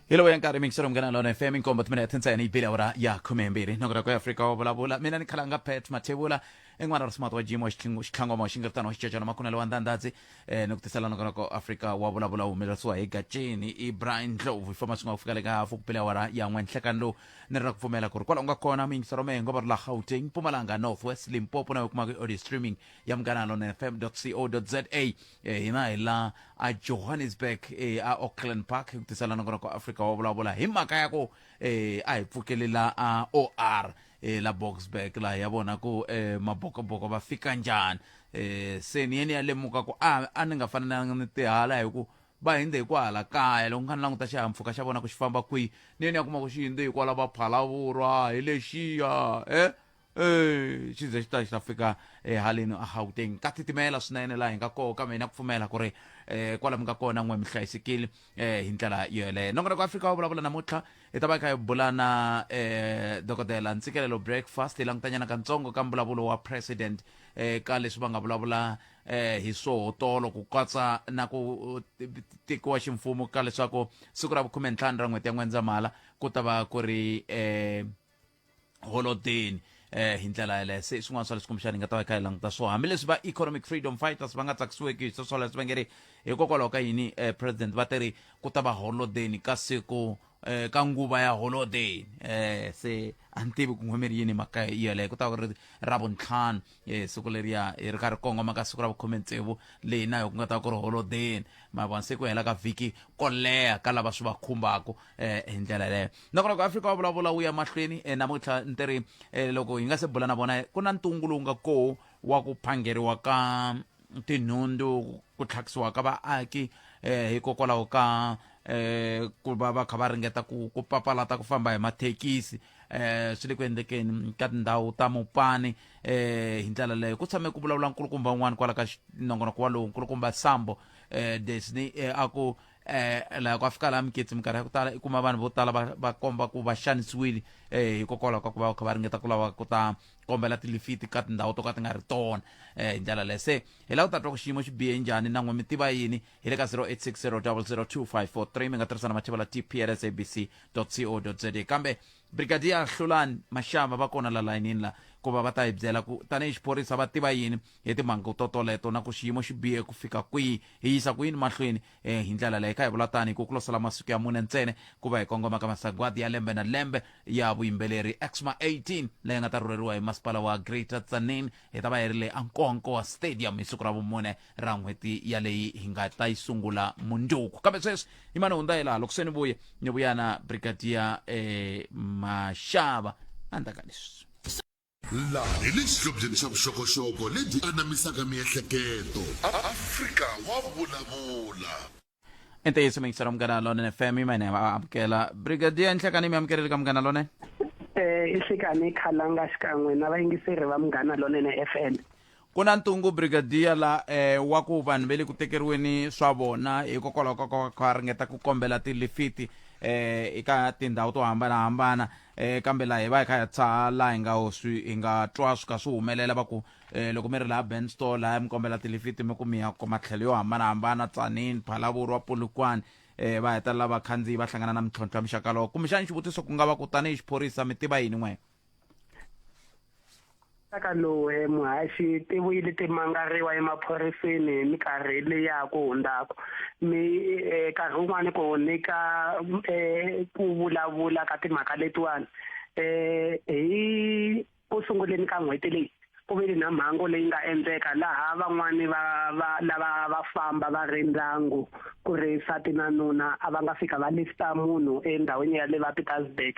hi lowu ya nkarhi mikisero munghana lona fm inkombo timene ya thintsayeni yi bile awara ya khume mbirhi nokota ku afrika wa vulavula mina ni khalanga pet mathevula en'wana ra smart wa jimo xitlhangoma wa xingiritano wa xicecana makunelo wa ndhandadzi um ni ku tisela nokona ku afrika wa vulavula wu humelerisiwa hi gacini i brian ndlovu hi famba swi nga ku fika le ka hafu ku bile awara ya n'we nhlekani lowu ni ri ra ku pfumela ku ri kwala u nga kona miyingisero mehe ngova ri la gauteng mpumalanga north west limpopo na yo kumaka i audio streaming ya munghana lona fm co za Eh, hina hi la a johannesburg eh, a auckland park hi ku tisela nakona ku africa wa vulavula hi mhaka ya ku eh, a hi pfukeli la a or eh, la boxburg laha ya vona ku eh, mabokoboko va fika njhani eh, se ni yeni ya lemuka ku a, a ni nga fanelanga ni tihala hi ku va hindze hi ku hala kaya loko nga ni languta xihahampfhuka xa vona ku xi famba kwihi ni yeni ya kuma ku xi hindze hi kwala va phalavurha hi lexiya eh Eh, xi ze xi ta xi ta fika ehaleni a gauteng ka titimela swinene laha hi nga koho kambe hi na ku pfumela ku ri um kwala mi nga kona n'we mi hlayisekile um hi ndlela yoyeleyo nongonoko afrika wo vulavula namuntlha hi ta va hi kha hi bula na um dokodela ntsikelelo breakfast hi langutanyana katsongo ka mbulavulo wa president um ka leswi va nga vulavula um hi swohotolo ku katsa na ku tekiwa ximfumo ka leswaku siku ra vukhume ntlhanu ra n'hweti ya n'wendzamhala ku ta va ku ri um holodeni eh hi ndlela yeleyo se swin'wana swa leswi kumbexana hi nga ta va hi kha hi languta swona hambileswi va economic freedom fighters va nga tsakisiweki hi swoswoleswo va nge ri hikokwalaho ka yini eh president va te ri ku ta va holodeni ka siku eh ka nguva ya holodeni eh se a ni tivi ku n'wemeri yini mhaka yeleyo ku ta va ku ri ravuntlhanu hi siku leriya hi ri karhi kongoma ka siku ra vukhume tsevu leyi na yo ku nga ta ku ri holodeni mavona se ku hela ka vhiki ko leha ka lava swi va khumbaka eh, hi ndlela yeleyo nakona ku afrika wa vulavula wu ya mahlweni eh, namuntlha ni tiri eh, loko hi nga se bula na vona ku na ntungu lowu nga koho wa ku phangeriwa ka tinhundzu ku tlhakisiwa ka vaaki eh hikokwalaho ka eh ku va va kha va ringeta ku ku papalata ku famba hi mathekisi eh swi le ku endlekeni ka tindhawu ta mupani eh hi ndlela leyo ku tshame ku vulavula nkulukumba un'wana kwala ka nongonoko walowu nkulukumba sambo eh desni eh, a ku eh laha ku a fika laha miketsi minkarhi ya ku tala i kuma vanhu vo tala va va komba ku va xanisiwile eh hikokwalaho ka ku va va kha va ringeta ku lava ku ta kombela tilifiti ka tindhawu to ka ti nga ri tona um hi ndlela leyi se hi lava ku ta twa ku xiyimo xi bihe njhani na n'we mi tiva yini hi le ka 0860002543 mi nga tirhisa na machivala tplsabc co za kambe brigadier hlulani maxava va kona la layinini la ku va va ta hi byela ku tanihi xiphorisa va tiva yini hi timhangu to toleto na ku xiyimo xi bihe ku fika kwihi hi yisa ku yini mahlweni e hi ndlela leyi ka hi vula tani ku ku losela masiku ya mune ntsena ku va hi kongoma ka masagwadi ya lembe na lembe ya vuyimbeleri exma 18 leyi nga ta rhurheriwa hi masipala wa greater tsanin hi ta va hi ri le ankowankowa stadium hi siku ra vumune ra n'hweti yaleyi hi nga ta yi sungula mundzuku kambe sweswi hi mani hundza hi laha loko se ni vuye ni vuyana brigadier eh, maxava a ndzaka leswi Laha hi le xihlobyeni xa vuxokoxoko lebyi anamisaka miehleketo, Afrika wa vulavula. I ntiyiso mixer wa Munghana Lonene FM i mine va amukela Brigadier Nhlekani mi amukerile ka Munghana Lonene Eh, i Nhlekani Khalanga xikan'we na vayingiseri va Munghana Lonene FM. Ku na ntungu brigadier la eh, wa ku vanhu ve le ku tekeriweni swa vona hikokwalaho ka ku va ringeta ku kombela tilifiti eh eka tindhawu to hambanahambana eh kambe laha hi va hi kha hi tshaha laha hi nga swi hi nga twa swi kha swi humelela va ku eh loko mi ri laha ben store laha mi kombela tilifiti mi ku mi ya kuma tlhelo yo hambanahambana tsanini phalavurwa polokwane eh va hetelela vakhandziyi va hlangana na mintlhontlho ya muxaka lowo kumbexana xivutiso ku nga va ku tanihi xiphorisa mi tiva yini n'wena Aka lowu he muhaxi ti vuyile ti mangariwa emaphoriseni hi minkarhi leyi ya ha ku hundzaka. Mi eh, nkarhi wun'wani ku nyika eh, ku vulavula ka timhaka letiwani eh, hi ku sunguleni ka n'hweti leyi Ku vile na mhangu leyi nga endleka laha van'wana va va lava va famba va ri ndyangu ku ri nsati na nuna a va nga fika va lifta munhu endhawini ya le va Pietersburg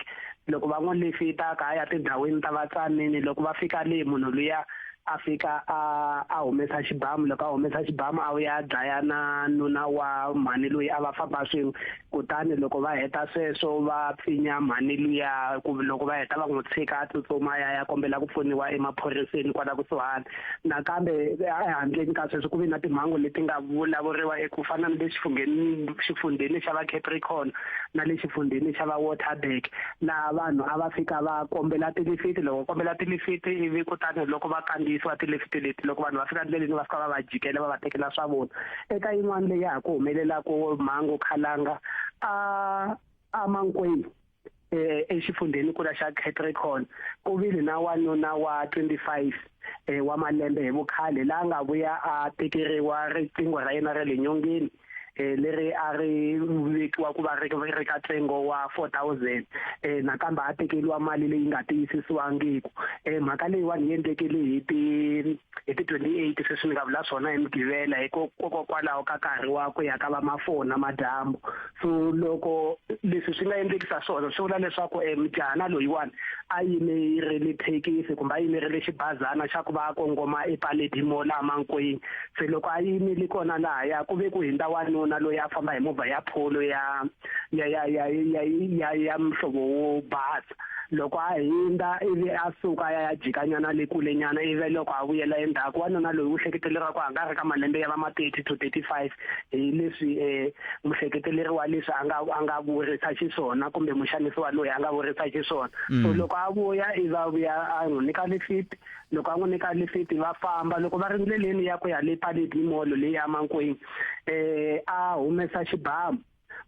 loko va n'wi lifita ka ya tindhawini ta vatsanini loko va fika le munhu luya a fika a a humesa xibamu loko a humesa xibamu a vuya a dlaya na nuna wa mhani loyi a va famba swin'we kutani loko va heta sweswo va pfinya mhani luya ku loko va heta va n'wi tshika a tsutsuma ya ya kombela ku pfuniwa emaphoriseni kwala kusuhani nakambe ehandleni ka sweswo ku ve na timhangu leti nga vulavuriwa eku fana ni le xifungeni xifundheni xa va capricorn na le xifundheni xa va waterberg laha vanhu a va fika va kombela tilifiti loko kombela tilifiti ivi kutani loko va kandziyisiwa tilifiti leti loko vanhu va fika ndleleni va fika va va jikela va va tekela swa vona eka yin'wana leyi ya ha ku humelelaka mhangu khalanga a a mankwenu eh exifundzeni kula xa Catricon ku vile na wanuna wa 25 eh wa malembe hi vukhale la nga vuya a tekeriwa riqingho ra yena ra le nyongeni eh leri a ri vekiwa ku va ri ri ka tsengo wa 4000 eh nakambe a tekeliwa mali leyi nga tiyisisiwangiki eh mhaka leyi wani yendlekele hi ti hi ti 28 sweswi ni nga vula swona hi mugivela hikokwalaho ka nkarhi wa ku ya ka va mafoni namadyambu so loko leswi swi nga endlekisa swona swi vula leswaku um mujahana loyiwani a yimerile thekisi kumbe a yimerile xibazana xa ku va a kongoma epaledi mo laha mankwini se loko a yimile kona lahaya ku ve ku hindza wanuna loyi a famba hi movha ya pholo ya ya ya ya ya ya ya mhlovo wo basa loko a hindza ivi a suka ya ya jikanyana le kule nyana ivi loko a vuyela endzhaku wanuna loyi u hleketeleriwa ku hanga ri ka malembe ya va ma 30 to 35 hi leswi eh muhleketeleri wa leswi a nga a nga vurisa xiswona kumbe muxanisiwa loyi a nga vurisa xiswona so loko a vuya i va vuya a n'wi nyika lifiti loko a n'wi nyika lifiti va famba loko va ri ndleleni ya ku ya le paleti molo leyi ya mankwini eh a humesa xibamu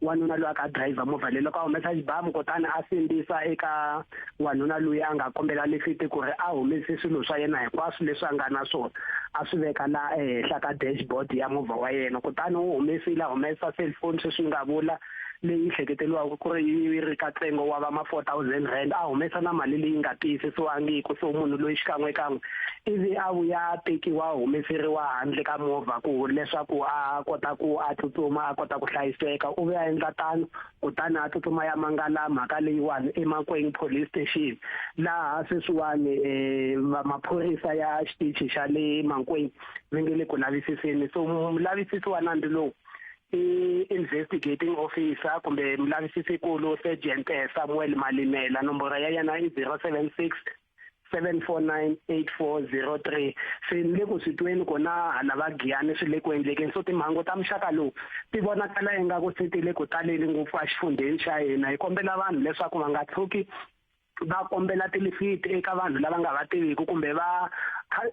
wanuna loyi a ka driver movha leyi loko a humesa xibamu kutani a sindzisa eka wanuna loyi a nga kombela lifiti ku ri a humese swilo swa yena hinkwaswo leswi a nga na swona a swi veka la ehenhla ka dashboard ya movha wa yena kutani u humesile a humesa cellphone sweswi ni nga vula leyi hleketeriwaka ku ri yi ri ka ntsengo wa va ma four thousand rand a humesa na mali leyi nga tiyisisiwangiku so munhu loyi xikan'wekan'we ivi a vuya a tekiwa a humeseriwa handle ka movha ku leswaku a kota ku a tsutsuma a kota ku hlayiseka u ve a endla tano kutani a tsutsuma ya mangala mhaka leyiwani emakweng police station laha sweswiwani um maphorisa ya xitichi xa le mankweng va nge le ku lavisiseni so mulavisisi wa nandzu lowu i-investigating officer kumbe mulavisisi kulu sergeant eh, samuel malimela nomboro ya yena i 076 7498403 se ni le ku swi tweni kona hala va giyani swi le ku endlekeni so timhangu ta muxaka lowu ti vonakala ingaku se ti le ku taleni ngopfu exifundzheni xa hina hi kombela vanhu leswaku va nga tlhuki va kombela tilifiti eka vanhu lava nga va tiviki kumbe va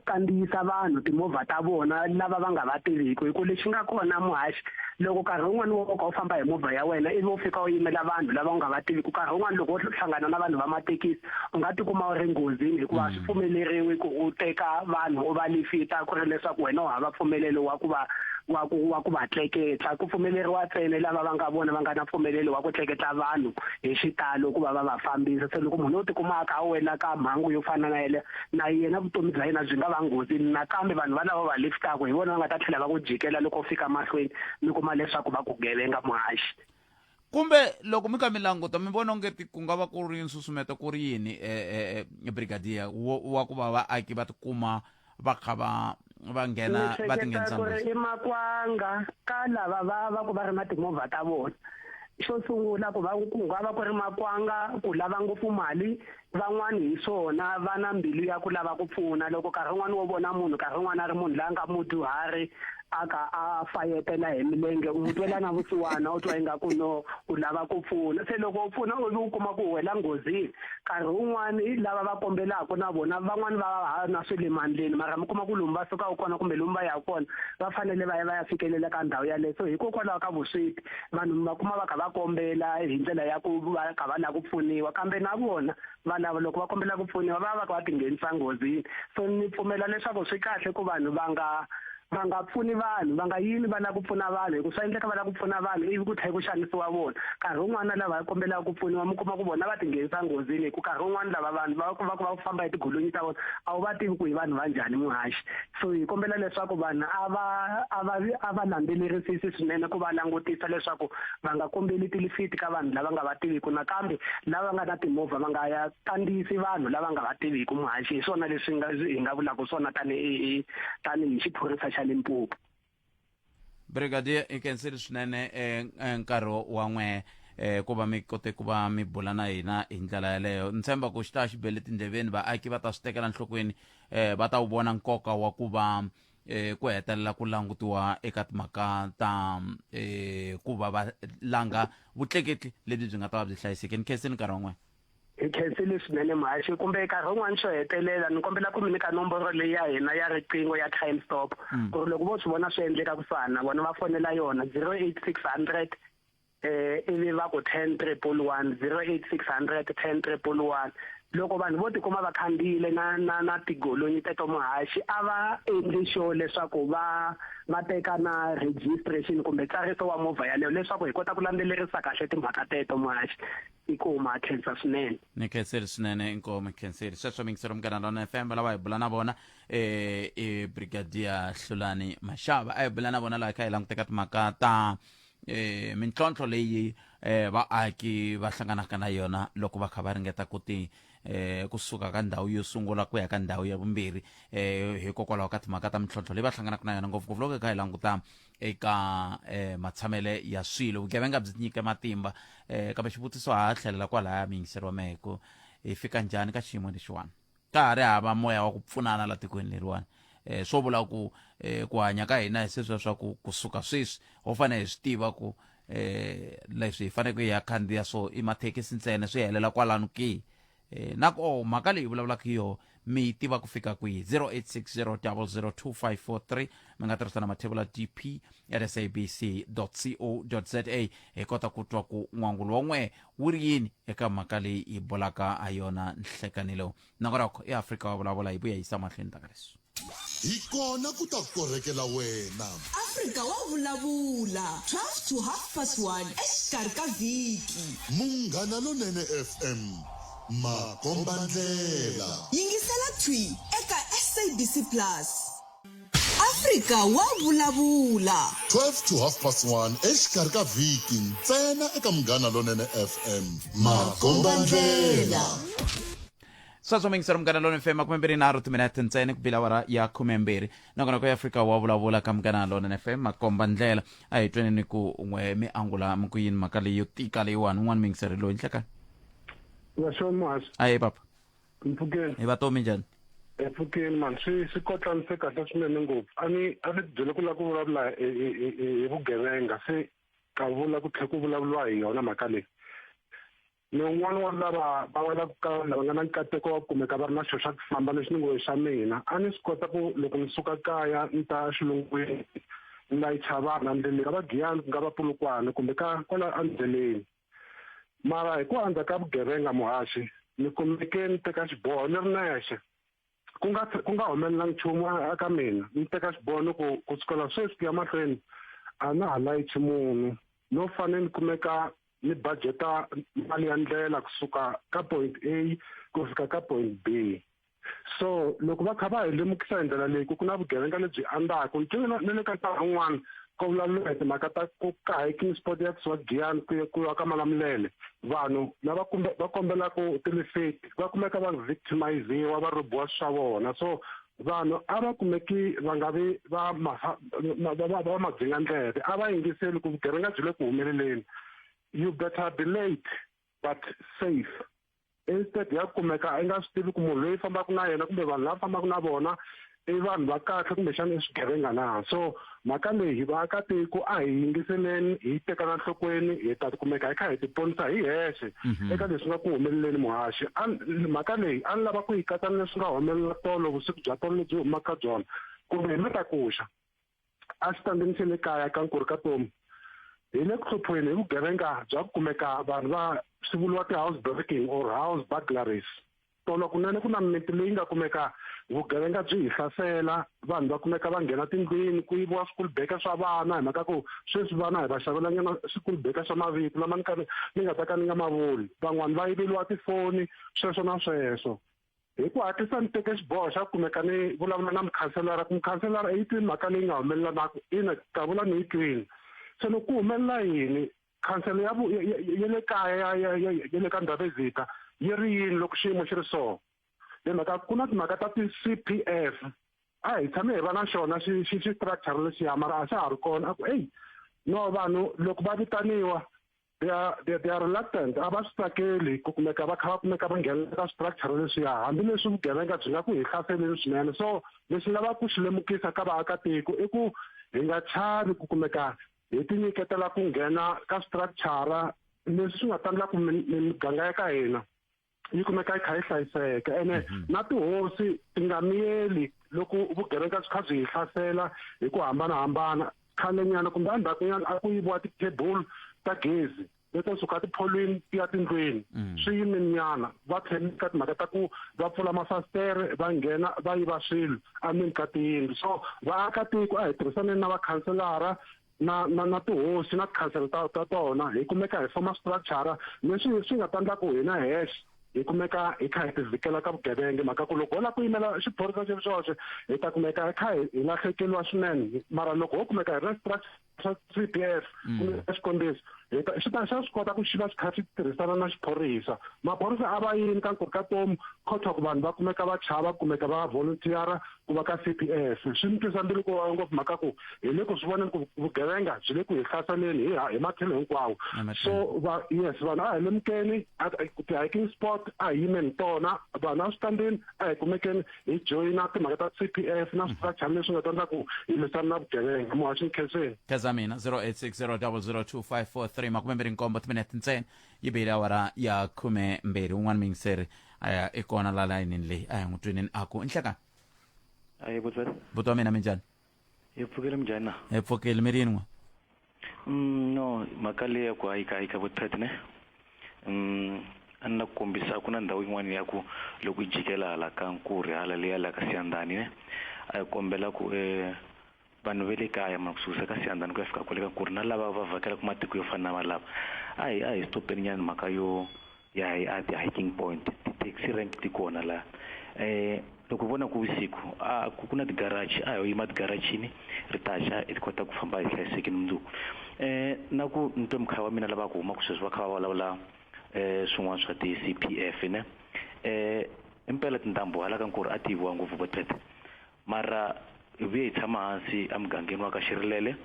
kandziyisa vanhu timovha ta vona lava va nga va tiviki hi ku lexi nga kona muhaxi loko nkarhi wun'wani wo ka u famba hi movha ya wena ivi u fika u yimela vanhu lava u nga va tiviki nkarhi wun'wani loko wo hlangana na vanhu va mathekisi u nga tikuma u ri nghozini hikuva a swi pfumeleriwi ku u teka vanhu u va lifita ku ri leswaku wena u hava mpfumelelo wa ku va wa ku wa ku va tleketla ku pfumeleriwa ntsena lava va nga vona va nga na mpfumelelo wa ku tleketla vanhu hi xitalo ku va va va fambisa se loko munhu u tikuma a kha a wela ka mhangu yo fana na yele na yena vutomi bya yena byi nga va nghozini nakambe vanhu valava va liftaka hi vona va nga ta tlhela va ku jikela loko u fika mahlweni mi kuma leswaku va ku gevenga muhaxi kumbe loko mi ka mi languta mi vona onge ti ku nga va ku ri nsusumeto ku ri yini e, e, e, brigadier wa ku va vaaki va tikuma va kha va va nghena va tinghenisa ku ri i makwanga ka lava va va ku va ri na timovha ta vona xo sungula ku va ku nga va ku ri makwanga ku lava ngopfu mali Van'wana hi swona va na mbilu ya ku lava ku pfuna loko nkarhi wun'wana wo vona munhu nkarhi wun'wana a ri munhu la nga mudyuhari a ka a fayetela hi milenge u mutwela na vusiwana u twa ingaku no u lava ku pfuna se loko u pfuna u u kuma ku wela nghozini nkarhi wun'wana lava va kombelaka na vona van'wani va ha na swi le mandleni mara mi kuma ku lomu va sukaka kona kumbe lomu va yaka kona va fanele va ya va ya fikelela ka ndhawu yaleyo so hikokwalaho ka vusweti vanhu mi va kuma va kha va kombela hi ndlela ya ku va kha va lava ku pfuniwa kambe na vona va lava loko va kombela ku pfuniwa va va va ti nghenisa nghozini so ni pfumela leswaku swi kahle ku vanhu va nga va nga pfuni vanhu va nga yini va lava ku pfuna vanhu hikuva swi endleka va lava ku pfuna vanhu ivi ku tlhela ku xanisiwa vona nkarhi wun'wana lava kombelaka ku pfuniwa mi kuma ku vona va tinghenisa nghozini hi ku nkarhi wun'wana lava vanhu va va va famba hi tigolonyi ta vona a wu va tivi ku hi vanhu va njhani muhaxi so hi kombela leswaku vanhu a va a va a va landzelerisisi swinene ku va langutisa leswaku va nga kombeli tilifiti ka vanhu lava nga va tiviku nakambe lava nga na timovha va nga ya kandziyisi vanhu lava nga va tiviku muhaxi hi swona leswi nga hi nga vulaka swona tanihi tanihi xiphorisa xa Limpopo brigadier i khensile swinene eh, eh, nkarhi wa n'we eh, ku va mi kote ku va mi bula na hina hi ndlela yaleyo ni tshemba ku xi ta xi bele tindleveni vaaki va ta swi tekela nhlokweni eh, va ta wu vona nkoka wa ku va eh, ku hetelela ku langutiwa eka timhaka ta eh, ku va va langa vutleketli lebyi byi nga ta va byi hlayisekeni khensile nkarhi wa n'we hi khensile swinene mhaxi kumbe nkarhi wun'wana xo hetelela ni kombela ku mi nyika nomboro leyi ya hina ya riqingho ya crime stop mm. ku ri loko vo swi vona swi endleka ku fana na vona va fonela yona zero eight six hundred eh ivi va ku ten triple one zero eight six hundred ten triple one loko vanhu vo tikuma va khandziyile na na na tigolonyi teto muhaxi a va endli xo leswaku va va teka na registration kumbe tsariso wa movha yaleyo leswaku hi kota ku landzelerisa kahle timhaka teto muhaxi inkomo a khensa swinene ni khenseli swinene inkomo khenseli sweswo mingiselo munghana lona fm lava hi bula na vona eh, i brigadier hlulani maxava a hi bula na vona laha hi kha hi languteka timhaka ta eh, mintlhontlho leyi eh, vaaki va hlanganaka na yona loko va kha va ringeta ku ti eh, kusuka ka ndhawu yo sungula ku ya ka ndhawu ya vumbirhi eh, hikokwalaho ka timhaka ta mintlhontlho leyi va hlanganaka na yona ngopfungopfu loko hi kha hi languta eka eh, matshamele ya swilo vugevenga byi nyike matimba eh, kambe xivutiso ha tlhelela kwalaya miyingiseriwa mehe ku hi fika njhani ka xiyimo lexiwani ka ha ri hava moya wa ku pfunana la tikweni leriwani eh, swo vula ku eh, ku hanya ka hina hi sweswiya swa ku kusuka sweswi ho fanele hi swi tiva ku eh, leswi hi faneleke hi ya khandziya so i mathekisi ntsena swi helela kwalano ki Eh, na koho mhaka leyi vulavulaka hi yoho mi yi tiva ku fika kwihi 0860002543 mi nga tirhisa na mathevula dp at sabc co za hi kota ku twa ku n'wangulo wa n'wehe wu ri yini eka mhaka leyi hi bolaka ha yona nhlekanilo nongo rakho eafrika wa vulavula hi vuya yisa mahlweni taka leswi Hi kona ku ta korhekela wena. Afrika wa vulavula, 12 to half past 1 exikarhi ka vhiki. Munghana Lonene FM, makombandlela. Yingisela thwi eka SABC Plus. Afrika wa vulavula. 12 to half past 1 exikarhi ka vhiki ntsena eka Munghana Lonene FM, makombandlela. sweswo mingisero munghana lona fm khume mbirhi nharhu timinete ntsena ku bila wara ya khume mbirhi nakona ku ya fika wa vulavula ka munghana lona fm makomba ndlela a hi tweni ni ku n'we mi angula mi ku yini mhaka leyi yo tika leyiwani un'wana mingiseri loyi nhleka Washo Muhasi, aye papa mpfhukeni. hi vatomi njhani E pfhukeni mani swi swi kotlanise kahle swinene ngopfu. A ni a ni byele ku lava ku vulavula hi hi hi- hi vugevenga se ka vula ku tlhela ku vulavuriwa hi yona mhaka leyi. ni un'wana wa lava va welaka ka vanhu lava nga na nkateko wa ku kumeka va ri na xo xa ku famba lexi ni ngo xa mina a ni swi kota ku loko ni suka kaya ni ta xilungwini ni layicha vanhu endleleni ka va giyani ku nga va pulukwana kumbe ka kwala endleleni mara hi ku andza ka vugevenga muhaxi ni kumeke ni teka xiboho ni ri nexe ku nga ku nga humelela nchumu eka mina ni teka xibono ku ku sukela sweswi ku ya mahlweni a na ha layichi munhu no fanele ni kumeka ni budgeta mali ya ndlela kusuka ka point a ku fika ka point b so loko va kha va hi lemukisa hi ndlela leyi ku ku na vugevenga lebyi andaka ni twe na le ka nkarhi wun'wana ko vulaluka hi timhaka ta ku kaha eking sport ya kusuka giyani ku ku ya ka malamulele vanhu lava kumbe va kombela ku tilifeti va kumeka va victimiziwa va robiwa swa vona so vanhu a va kumeki va nga vi va va madzinga ndleve a va yingiseli ku vugevenga byi le ku humeleleni you better be late but safe instead ya kumeka a yi nga swi tivi ku munhu loyi fambaka na yena kumbe vanhu lava fambaka na vona i vanhu va kahle kumbexana i swigevenga na so mhaka leyi hi vaakatiko a hi yingiseleni hi tekana nhlokweni hi ta kumeka hi kha hi tiponisa hi hexe mhm. eka leswi nga ku humeleleni muhaxi mhaka leyi a ni lava ku yi katsa ni leswi nga humelela tolo vusiku bya tolo lebyi humaka byona kumbe hi matakuxa a xitandzini xa le kaya ka nkuri ka tomu hi le ku hluphiweni hi vugevenga bya ku kumeka vanhu va swi vuriwa ti-house breaking or house burglaries tolo kunene ku na mimiti leyi nga kumeka vugevenga byi hi hlasela vanhu va kumeka va nghena tindlwini ku yiviwa school baker swa vana hi mhaka ku sweswi vana hi va xavelanyana school baker swa mavito lama ni ka ni nga ta ka ni nga ma vuli van'wani va yiveliwa tifoni sweswo na sweswo hi ku hatlisa ni teke xiboho xa ku kumeka ni vulavula na mukhanselara ku mukhanselara yi twi mhaka leyi nga humelela na ku ina davula ni yi twini se loko ku humelela yini khansele ya ya le kaya ya ya ya ya le ka ndhavezita yi ri yini loko xiyimo xi ri so hi mhaka ku na timhaka ta ti-cpf a hi tshame hi va na xona xi xi xi structure lexiya mara a xa ha ri kona a ku eyi no vanhu loko va vitaniwa they are they, they are reluctant a va swi tsakeli ku kumeka va kha va kumeka va nghenelela ka structure leswiya hambileswi vugevenga byi nga ku hi hlaseleni swinene so lexi lavaka ku xi lemukisa ka vaakatiko i ku hi nga chavi ku kumeka hi tinyiketela ku nghena ka structure leswi swi nga tandlaku miganga ya ka hina yi kumeka yi kha yi hlayiseka ene mhm. na tihosi ti nga miyeli loko vugevenga byi kha byi hi hlasela hi ku hambanahambana khalenyana kumbe endzhakunyana a ku yiviwa ti-table ta gezi leto suka tipholweni ti ya tindlwini mhm. swi yiminyana va tlhele ka timhaka ta ku va pfula mafasitere va nghena va yiva swilo endzeni ka tiyindlu so vaakatiko a hi tirhisaneni na vakhanselara na na na tihosi na tikhansela ta ta tona hi kumeka hi foma structure leswi swi nga ta ndla ku hina hexe hi kumeka hi kha hi tivhikela ka vugevenga mhaka ku loko ho lava ku yimela xiphorisa xi ri xoxe hi ta kumeka hi kha hi lahlekeriwa swinene mara loko ho kumeka hi ri na structure xa C_P_F mm. kumbe xikombiso hi ta xi ta xa swi kota ku xi va xi kha xi tirhisana na xiphorisa maphorisa a va yini ka nkoka ka tomu khotha ku vanhu va kumeka va chava kumeka va volunteera ku va ka c p s swi ni twisa mbilu ku vava ngopfu mhaka ku hi le ku swi voneni ku vugevenga byi le ku hi hlaseleni hi hi matlhelo hinkwawo so va yes vanhu a hi lemukeni ti-hiking sport a hi yimeni tona vanhu a swi kambeni a hi kumekeni hi joyina timhaka ta c p f na switachani leswi nga ta endla ku hi lwisana na vugevenga muhaxi ni khenseni kheza mina 0860002543 makume mbirhi nkombo timinete ntsena yi bihile awara ya khume mbirhi un'wana miyingiseri a ya i kona la layinini leyi a hi n'wi twinini a ku inhlekani ayi vutswari vutomi mina minjhani hi pfukile minjhani na hi pfukile mi ri yini n'we mm, no mhaka leyi ya ku hayikahayika vuthat ne um a ni la ku kombisa ku na ndhawu yin'wana ya ku loko yi jikela hala ka nkuri hala leya la ka siyandani ne a yi kombela ku um vanhu ve le kaya ma kususa ka siyandani ku ya fika kwale ka nkuri na lava va vhakelaku matiko yo fana na valava a hi a hi stopeni nyana mhaka yo ya hi a ti-hiking point ti-taxi rank ti kona la eh loko vona ku vusiku a ku ku na ti-garage a hi yima ti-garage-ini ri ta xa hi kota ku famba hi hlayisekile mundzuku eh na ku ni twe mukhaya wa mina lava ku humaka sweswi va kha va vulavula eh swin'wana swa ti-C_P_F ne eh impela tindhambi hala ka Nkuru a ti yiviwa ngopfu vo tete Mara, hi vuye hi tshama hansi emugangeni wa ka Xirilele,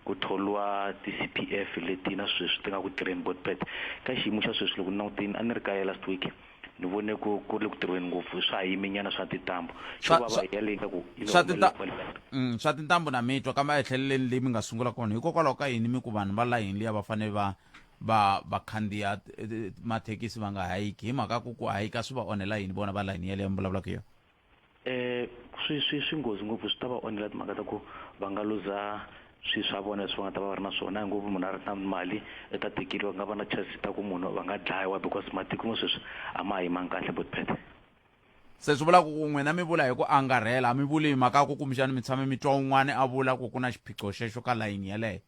ku thoriwa ti CPF leti na sweswi ti nga ku tirheni Botpret. Ka xiyimo xa sweswi loko ni langutini, a ni ri kaya last week, ni vone ku ku ri le ku tirhweni ngopfu, swa ha yime nyana swa tintambu. Xo Swa- vava swa- hi yale ingaku yi ni Swa tinta- onhele kwale ka Mm, swa tintambu na mitwa kambe a hi tlheleleni leyi mi nga sungula kona hikokwalaho ka yini mi ku vanhu va layini liya va fanele va va va khandziya t- t- mathekisi va nga hayiki hi mhaka ku ku hayika swi va onhela yini vona va layini yeleyo mi vulavulaka hi yona eh swi swi swi nghozi ngopfu swi ta va onhela timhaka ta ku va nga luza swi swa vona leswi va nga ta va va ri na swona hi ngopfu munhu a ri na mali i ta tekeriwa ku nga va na chance ta ku munhu va nga dlayiwa because matiko mo sweswi a ma ha yimangi kahle bot phethe se swi vula ku n'wina mi vula hi ku angarhela a mi vuli hi mhaka ya ku kumbexani mi tshame mi twa un'wana a vula ku ku na xiphiqo xexo ka layini yeleyo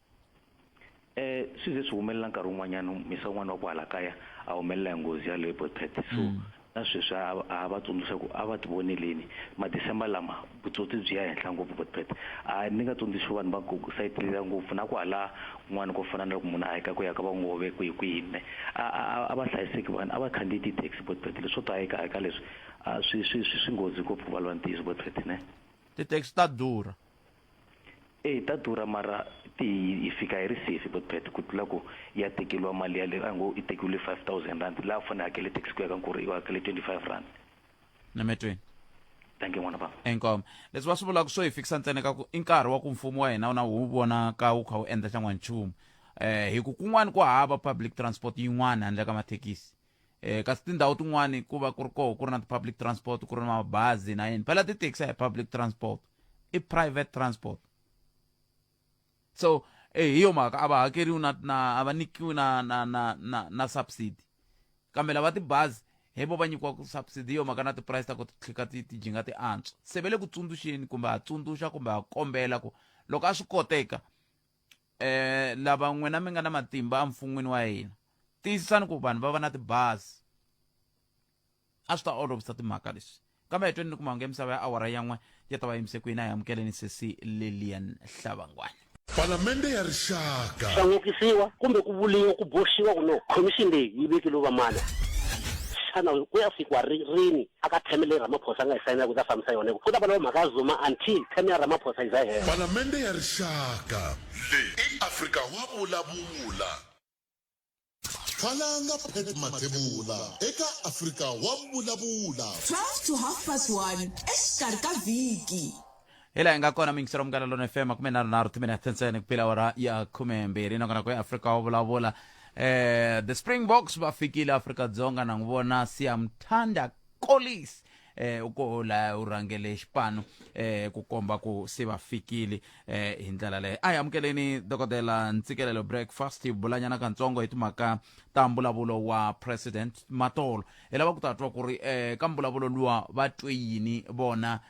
Eh, swi ze swi humelela nkarhi wun'wanyana misa wun'wana wa ku hala kaya a humelela hi nghozi ya loyi boypet so mm. na sweswi a va tsundzuxa ku a va ti voneleni madecember lama vutsotsi byi ya henhla ngopfu boypet a ni nga tsundzuxi vanhu va ku sayitlela ngopfu na ku hala kun'wana ko fana na loko munhu a heka ku ya ka vangove kwihi kwihi ne a va hlayiseki vanhu a va khandziyi ti-taxi boypet leswo to heka heka leswi swi swi swi swi nghozi ngopfu ku valwa ntiyiso boypet ne ti-taxi ta durha Eyi ta durha mara ti hi fika hi ri safe hi Botpret ku tlula ku i ya tekeriwa mali yaleyo a hi ngo i tekiwile five thousand rand la a fanele a hakele tax ku ya ka nkulu i hakele twenty five rand nametweni thank you n'wana bava inkomo leswi va swi vulaka swo hi fikisa ntsena ka ku i nkarhi wa ku mfumo wa hina wu na wu vonaka wu kha wu endla xan'wanchumu um hi ku kun'wana ku hava public transport yin'wana handle ka mathekisi eh kasi tindhawu tin'wani ku va ku ri koho ku ri na ti-public transport ku ri na mabazi na yini phela tithekisi a hi public transport i private transport so eh hi yo mhaka a va hakeriwi na na a va nyikiwi na na na na na subsidy kambe lava tibazi hi vo va nyikiwaka subsidy hi yo mhaka na ti-price ta ku tlhika ti ti jinga ti antswa se ve le ku tsundzuxeni kumbe ha tsundzuxa kumbe ha kombela ku loko a swi koteka um lava n'wina mi nga na matimba emfun'wini wa hina tiyisisani ku vanhu va va na tibazi a swi ta olovisa timhaka leswi kambe hi tweni ni ku mahungu ya misava ya awara ya n'we ya ta va yimise ku yini a hi amukeleni sesi lilian hlavangwani Palamende ya Rixaka. Swa n'okisiwa kumbe ku vuliwa ku boxiwa ku no khomixini leyi yi vekeliwe vamani. Xana ku ya fikwa ri, rini A ka theme leyi Ramaphosa a nga yi sayina ku ta fambisa yona hi ku ku ta va loko mhaka ya Zuma until theme ya Ramaphosa yi za yi hela. Palamende ya Rixaka leyi i Afrika wa vulavula. Khalanga Pat Mathebula eka Afrika wa vulavula. 12 to half past one exikarhi ka vhiki. hi laha hi nga kona mingiselo munghana lona fm makume nharhu nharhu timinete ntsena ku pila wara ya khume mbirhi nakona ku ya afrika wa vulavula eh the springboks va fikile afrika dzonga na n'wi vona siyamthanda colis eh u ko la u rhangele xipano eh ku komba ku se va fikile eh hi ndlela leyo a hi amukeleni dokodela ntsikelelo breakfast hi bulanyana katsongo hi timhaka ta mbulavulo wa president matolo hi lava ku ta twa ku ri eh ka mbulavulo luwa va twe yini vona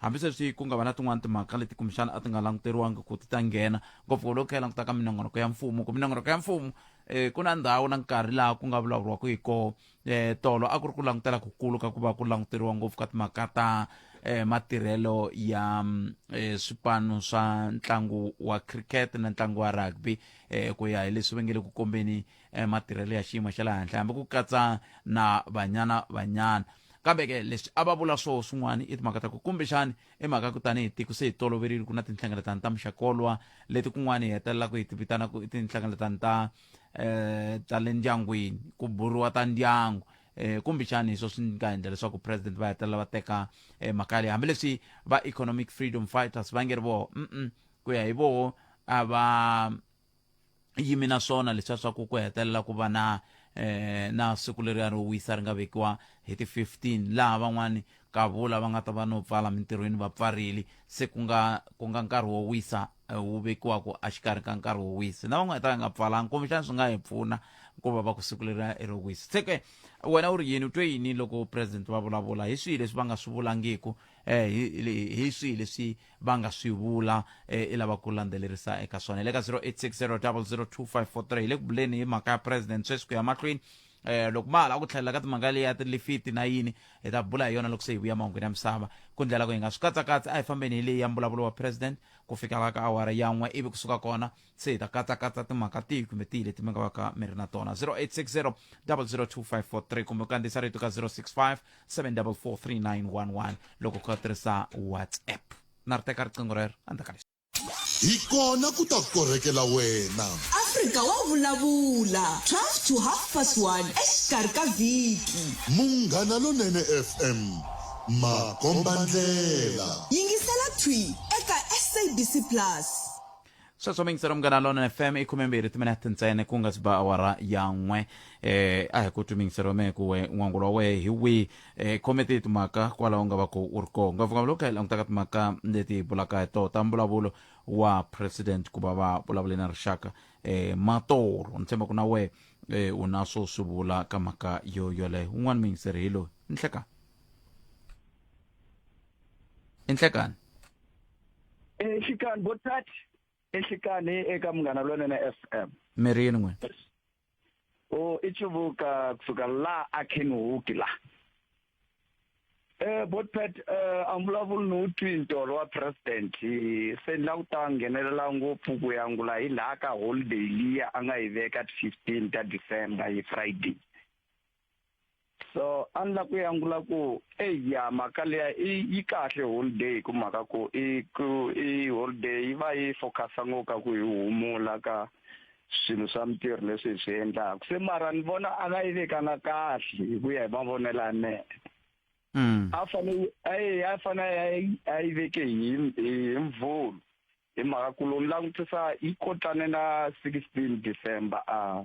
Hambisweswi ku nga va na tin'wana timhaka leti kumbexana a ti nga languteriwangi ku ti ta nghena, ngopfu loko hi languta ka minongonoko ya mfumo. Ku minongonoko ya mfumo um ku na ndhawu na nkarhi laha ku nga vulavuriwaka hi kona. Um tolo a ku ri ku langutela ku kulu ka ku va ku languteriwa ngopfu ka timhaka ta um matirhelo ya um swipanu swa ntlangu wa cricket na ntlangu wa rugby um ku ya hi leswi va nge le ku kombeni um matirhelo ya xiyimo xa le henhla hambi ku katsa na banyana banyana kambe ke leswi a va vula swoho swin'wana i timhaka ta ku kumbexani i mhaka ku tanihi tiko se hi toloverile ku na tinhlengeletano ta muxakolwa leti kun'wana hi hetelelaka hi ti vitana ku i tinhlengeletano ta um ta le ndyangwini ku buriwa ta ndyangu um kumbexani hi swo swi nga endla leswaku president va hetelela va teka um mhaka leyi hambileswi va economic freedom fighters va nge ri voho mm ku ya hi voho a va yimi na swona leswiya swa ku ku hetelela ku va na eh na siku leriya ro wisa ri nga vekiwa hi ti 15 laha van'wani kavula va nga ta va no pfala mintirhweni va pfarile se ku nga ku nga nkarhi wo wisa eh, wu vekiwaka exikarhi ka nkarhi wo wisa na van'wana ta va nga pfalanga kumbexana swi nga hi pfuna ku va va ku siku leriya i ro wisa se ke wena u ri yini u twe yini loko president va vulavula hi swihi leswi va nga swi vulangiku um hi swihi leswi va nga swi vula eh, i lava ku landzelerisa eka swona hi le ka 0860002543 hi le ku buleni hi mhaka ya president sweswi ku ya mahlweni eh loko ma hala ku tlhelela ka timhaka leyi ya tilifiti na yini hi ta bula hi yona loko se hi vuya mahungwini ya misava ku ndlela ku hi nga swi katsakatsi a hi fambeni hi leyi ya mbulavulo wa president ku fika va ka awara yan'we ivi kusuka kona se hi ta katsakatsa timhaka tihi kumbe tihi leti mi nga va ka mi ri na tona 0860 002543 kumbe u kandziyisa rito ka 065 7443911 loko u kha tirhisa whatsapp na ri teka riqingho rero endzhaku ka leswi hi kona ku ta korhekela wena afrika wa vulavula 12 to half past 1 exikarhi ka vhiki munghana lonene fm makombandlela yingisela thwi eka sabc plus sweswo mingisero munghana lona fm i khume mbirhi timinete ntsene ku nga si ba awara ya n'we eh a hi ku twi mingisero me ku we n'wangulo wa wehe hi wihi eh khomete hi timhaka kwalaho u nga va ku u ri kona ngopfungopfu loko hi langutaka timhaka leti hi bulaka hi toho ta mbulavulo wa president ku va va vulavule na rixaka eh matolo ni tshemba ku na wehe eh u na swo swi vula ka mhaka yo yoleyo un'wana mingisero hi loyi ni hlekani i nhlekani exikanhi vo thathi exikanhi eka munghana lonene f m mirhi yini n'wini o oh, i chuvuka kusuka laha a khenhuki laha Eh botpet eh angivulavuli no twintolo wa president se ni la ku ta nghenelela ngopfu ku yangula hi laha ka holiday liya a nga yi veka 15 ta December hi Friday so a ni la ku yangula ku eya mhaka leya yi kahle holiday hi ku mhaka ku i ku i holiday yi va yi focusa ngopfu ka ku hi humula ka swilo swa mintirho leswi hi swi endlaka se mara ni vona a nga yi vekanga kahle hi ku ya hi mavonelo ya mehe mm. a fanele a fanele a yi veke hi hi mvulu hi mhaka ku lowu langutisa yi kotane na sixteen december a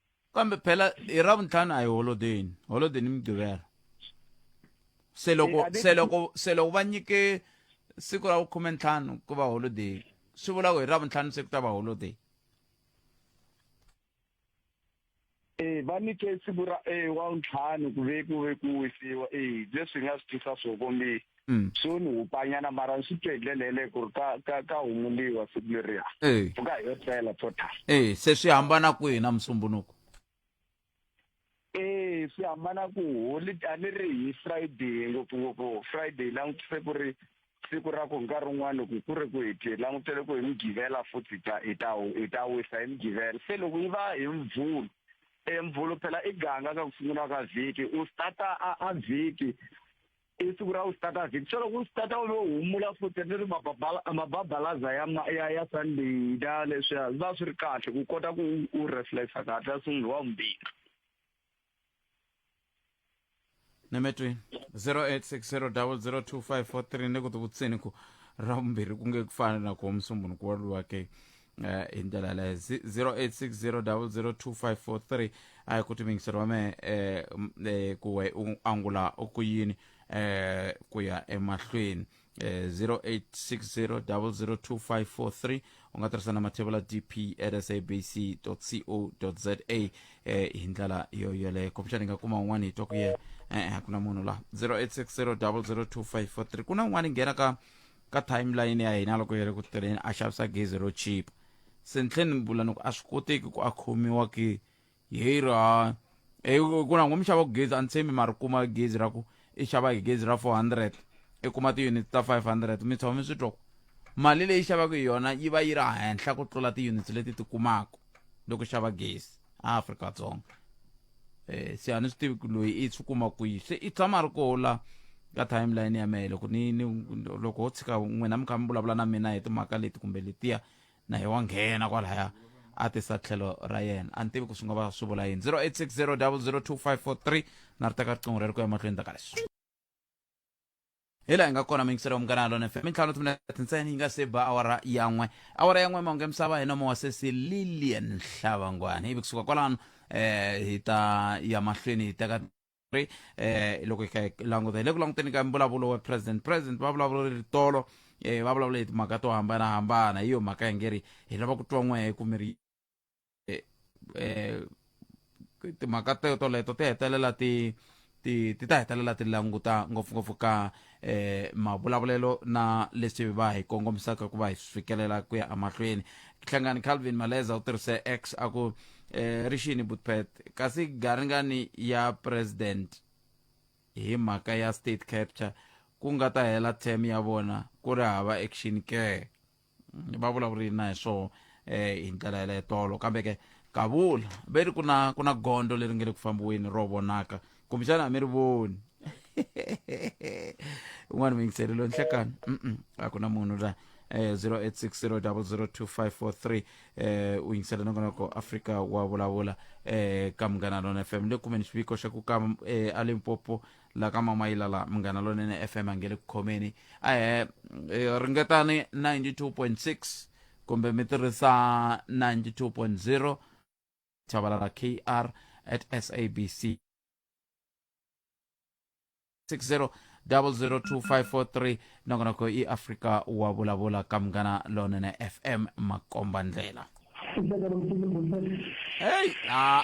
kambe phela hi ravuntlhanu a hi holodeni holodeni i mugqivela se loko Eh, a ve- se loko se loko va nyike siku ra vukhume ntlhanu ku va holiday swi vula ku hi ravuntlhanu se ku ta va holiday Eh va nike siku ra eh wa ntlhanu ku ve ku ve ku wisiwa eh leswi hi nga swi tisa swo kombisa Mm. so ni hupanyana mara ni swi twe hi ndlela yeleyo ku ri ka ka ka humuliwa siku leriya Eh. pfuka hi yo tlela total Eh, se swi hambana kwihi na musumbunuko eh swi hambana ku holi a ni ri hi friday ngopfungopfu friday langutise ku ri siku ra ku nkarhi wun'wana loko ku ri ku hi ti langutele ku hi mugivela futhi hi ta hi ta hi ta wisa hi mugivela se loko yi va hi mvulu e mvulu phela i ganga ka ku sungula ka vhiki u starta a a vhiki i siku ra usitatasi hi tlhelo ku sitata u lo humula futhi ni ri mababalaza ya ya ya sunday da leswiya va swi ri kahle ku kota ku u reflexa kahle a sungula wa vumbirhi nemetwi 0860002543 ni ku tivutseni ku ra vumbirhi ku nge ku fana na ku wa musumbunuku wa luwake Eh, hi ndlela yaleyo 0860002543 a hi ku timingiseriwa me eh, m- eh, ku we u angula ku yini eh, ku ya emahlweni eh, 0860002543 u nga tirhisa na mathevula dp at sabc co za eh, hi ndlela yo yoleyo kumbexani hi nga kuma un'wana hi twa ku ye e-e a ku na munhu la 0860002543 ku na un'wana hi nghena ka ka timeline ya hina loko hi ri ku tirheni a xavisa gezi ro chipa se ni tlhe ni vula ni ku a swi koteki ku a khomiwa ke hi ra e ku na ngo mi xava ku gezi a ni tshembi ma ri kuma gezi ra ku i xava hi gezi ra four hundred i kuma ti-units ta five hundred mi tshama mi swi twa ku mali leyi xavaka hi yona yi va yi ri henhla ku tlula ti-units leti ti kumaka loko xava gezi a afrika-dzonga eh se a ni swi tivi ku loyi i swi kuma kwihi se i tshama a ri koho la ka timeline ya mehe loko ni ni loko ho tshika n'wina mi kha mi vulavula na mina hi timhaka leti kumbe letiya na hi wa nghena kwalaya a tisa tlhelo ra yena a ni tivi ku swi nga va swi vula yini 0860 002 543 na ri teka riqingho reri ku ya mahlweni ta ka leswi hi laha hi nga kona mingiselo wa munghana lona fm ntlhanu timinete ntsena yi nga se ba awara ya n'we awara ya n'we mahungu ya misava hi nomo wa sesi lilian nhlavangwana ivi kusuka kwalano eh hi ta ya mahlweni hi teka ri eh loko hi kha hi languta hi le ku languteni ka mbulavulo wa president president va vulavula ri tolo eh va vulavula hi timhaka to hambanahambana hi yo mhaka hi nge ri hi lava ku twa n'we hi kumiri eh, eh, timhaka teto leto ti hetelela ti ti ti ta hetelela ti languta ngopfungopfu ka eh mavulavulelo na leswi va hi kongomisaka ku va hi fikelela ku ya emahlweni hlangani calvin maleza u tirhise x a ku eh rixini butpet kasi garingani ya president hi mhaka ya state capture ku nga ta hela term ya vona ku ri hava action care va vulavurile na hi swo um hi ndlela yaleyo tolo kambe ke kavula ve ri ku na ku na gondo leri nge le ku fambiweni ro vonaka kumbexana a mi ri voni un'wana muyingiselelo nhlekani a ku na munhu la eh, 0860002543 eh, u yingisela nongonoko afrika wa vulavula eh, ka munghana lona fm le kumeni xiviko xa ku ka eh, alimpopo la ka mama yilala munghana lonene fm a nge le ku khomeni ahe eh, ringetani 92.6 kumbe mi tirhisa 92.0 chavala ra kr at sabc 60 002543 nongonoko i afrika wa vulavula ka munghana lonene fm makomba ndlela Hey, ah,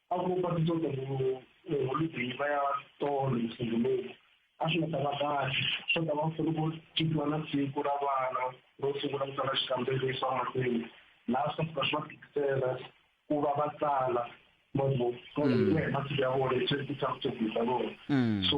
a ku va ti tota ku holideyi va ya tolo siku lowu a swi nga ta va kahle swo ta va funa ku tikiwa na siku ra vana ro sungula ku tsala xikambelo xa mahlweni laha swi ta swi va tikisela ku va va tsala masiku ya vona hi swi ti-subject ta vona so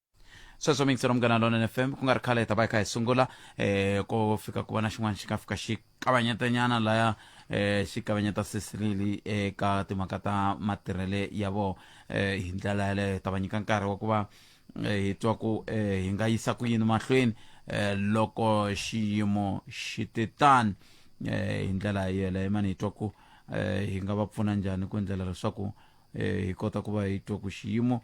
sweswo mi yingisela munghana lona fm ku nga ri khale hi ta va hi kha hi sungula um ko fika ku va na xin'wana xi nga fika xi kavanyetanyana laya um xi kavanyeta sisirili eka timhaka ta matirhele ya vona um hi ndlela yaleyo hi ta va nyika nkarhi wa ku va hi twa ku hi nga yisa ku yini mahlweni um loko xiyimo xi te tani um hi ndlela yeleyo mani hi twa ku um hi nga va pfuna njhani ku endlela leswaku um hi kota ku va hi twa ku xiyimo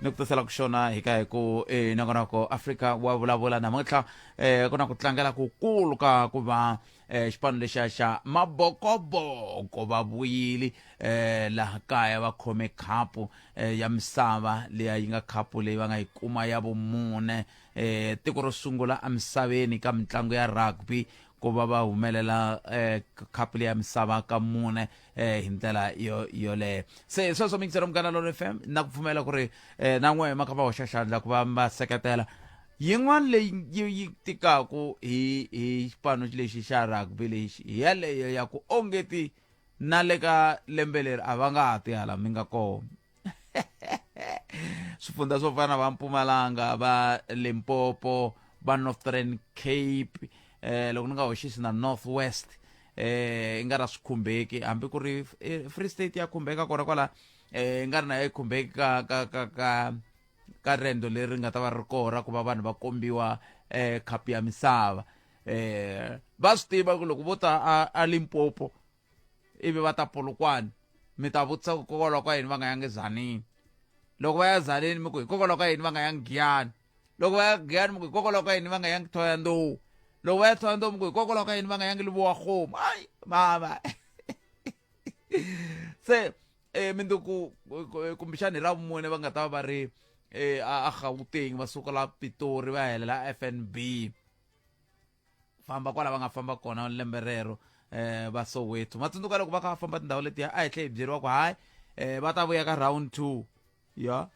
ni ku tisela ku xona hi ka hi ku e nongonoko afrika wa vulavula namuntlha eh ku na ku tlangela ku kulu ka ku va eh xipano lexiya xa mabokoboko va vuyile eh laha kaya va khome khapu eh, ya misava leya yi nga khapu leyi va nga yi kuma ya vumune eh tiko ro sungula emisaveni ka mitlangu ya rugby ku va va humelela eh khapu leya misava ka mune eh hi ndlela yo yoleyo se sweswo mixero munghana lolo f m na ku pfumela ku ri eh na n'we ma kha va hoxa xandla ku va va seketela yin'wana leyi yi yi tikaku hi hi xipano lexi xa rugby lexi hi yaleyo ya ku ongeti na le ka lembe leri a va nga ha ti hala mi nga kona swifundza swo fana va mpumalanga va limpopo va northern cape eh loko ni nga hoxisi na north west eh i nga ra swi khumbeki hambi ku ri eh, free state ya khumbeka kona kwala eh i nga ri na yi khumbeki ka ka ka ka ka rendo leri nga ta va ri kora ku va vanhu va kombiwa eh khapu ya misava eh va swi tiva ku loko vo ta a- a limpopo ivi va ta polokwane mi ta vutisa ku hikokwalaho ka yini va nga yangi zanini loko va ya zanini mi ku hikokwalaho ka yini va nga yangi giyani loko va ya giyani mi ku hikokwalaho ka yini va nga yangi thoya ndowu loko va ya thoya ndowu mi ku hikokwalaho ka yini va nga yangi livowa khomu hayi mama se um minduku kumbexani hi ra vumune va nga ta va va ri um a gauteng va suka la pitori va helela f n b famba kwala va nga famba kona lembe rero eh va soweto ma tsundzuka loko va kha va famba tindhawu letiya a hi tlhe hi byeriwa ku hayi eh va ta vuya ka round two ya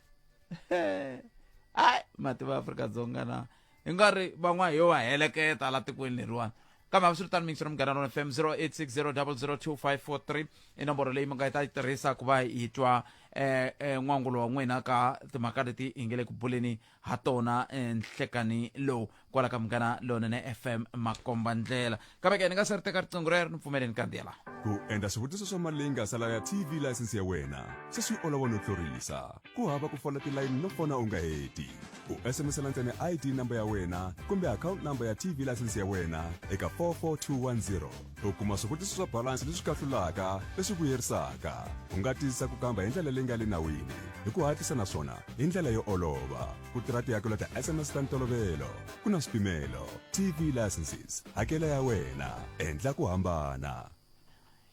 hayi mati va afrika-dzonga na hi nga ri van'wana hi yo va heleketa la tikweni leriwani kambe a swi ri tano mixo munghana rona fm 0860002543 i nomboro leyi mi nga yi ta yi tirhisa ku va hi twa um um n'wangulo wa n'wina ka timhaka leti hi nge le ku buleni ha tona nhlekanhi lowu kwala ka munghana lonene fm makomba ndlela kambe ke ni nga se ri teka riqingho rero ni pfumele ni kandziya laha ku endla swivutiso swa mali leyi nga sala ya tv layisense ya wena se swi olova no tlurisa ku hava ku fola tilayini no fona u nga heti u sms-ela ntsena id number ya wena kumbe akhawunti number ya tv layisense ya wena eka 44210 u kuma swivutiso swa balansi leswi kahlulaka leswi vuyerisaka u nga tiyisisa ku kamba hi ndlela leyi nga le nawini hi ku hatlisa naswona hi ndlela yo olova ku tirha tihakelo ta sms ta ntolovelo ku na swipimelo tv licenses hakela ya wena endla ku hambana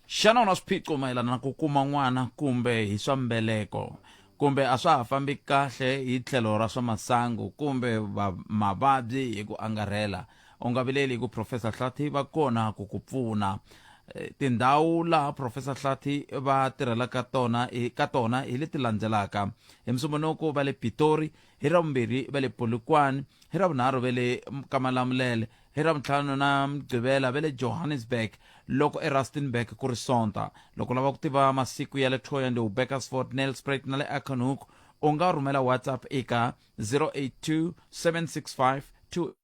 xana u na swiphiqo mayelana na ku kuma n'wana kumbe hi swa mbeleko kumbe a swa ha fambi kahle hi tlhelo ra swa masangu kumbe mavabyi hi ku angarhela u nga vileli hi ku profesa hlathi va kona ku ku pfuna eh, tindhawu laha profesa hlathi va tirhelaka tona ka tona hi leti landzelaka hi musumbunuku va le pitori hi ra vumbirhi va le polokwane hi ra vunharhu va le kamalamulele hi ra vuntlhanu na mugqivela va le johannesburg loko erustenburg ku ri sonta loko lava ku tiva masiku ya le toyande ubekersford nelspret na le aconhook u nga rhumela whatsapp eka 082 765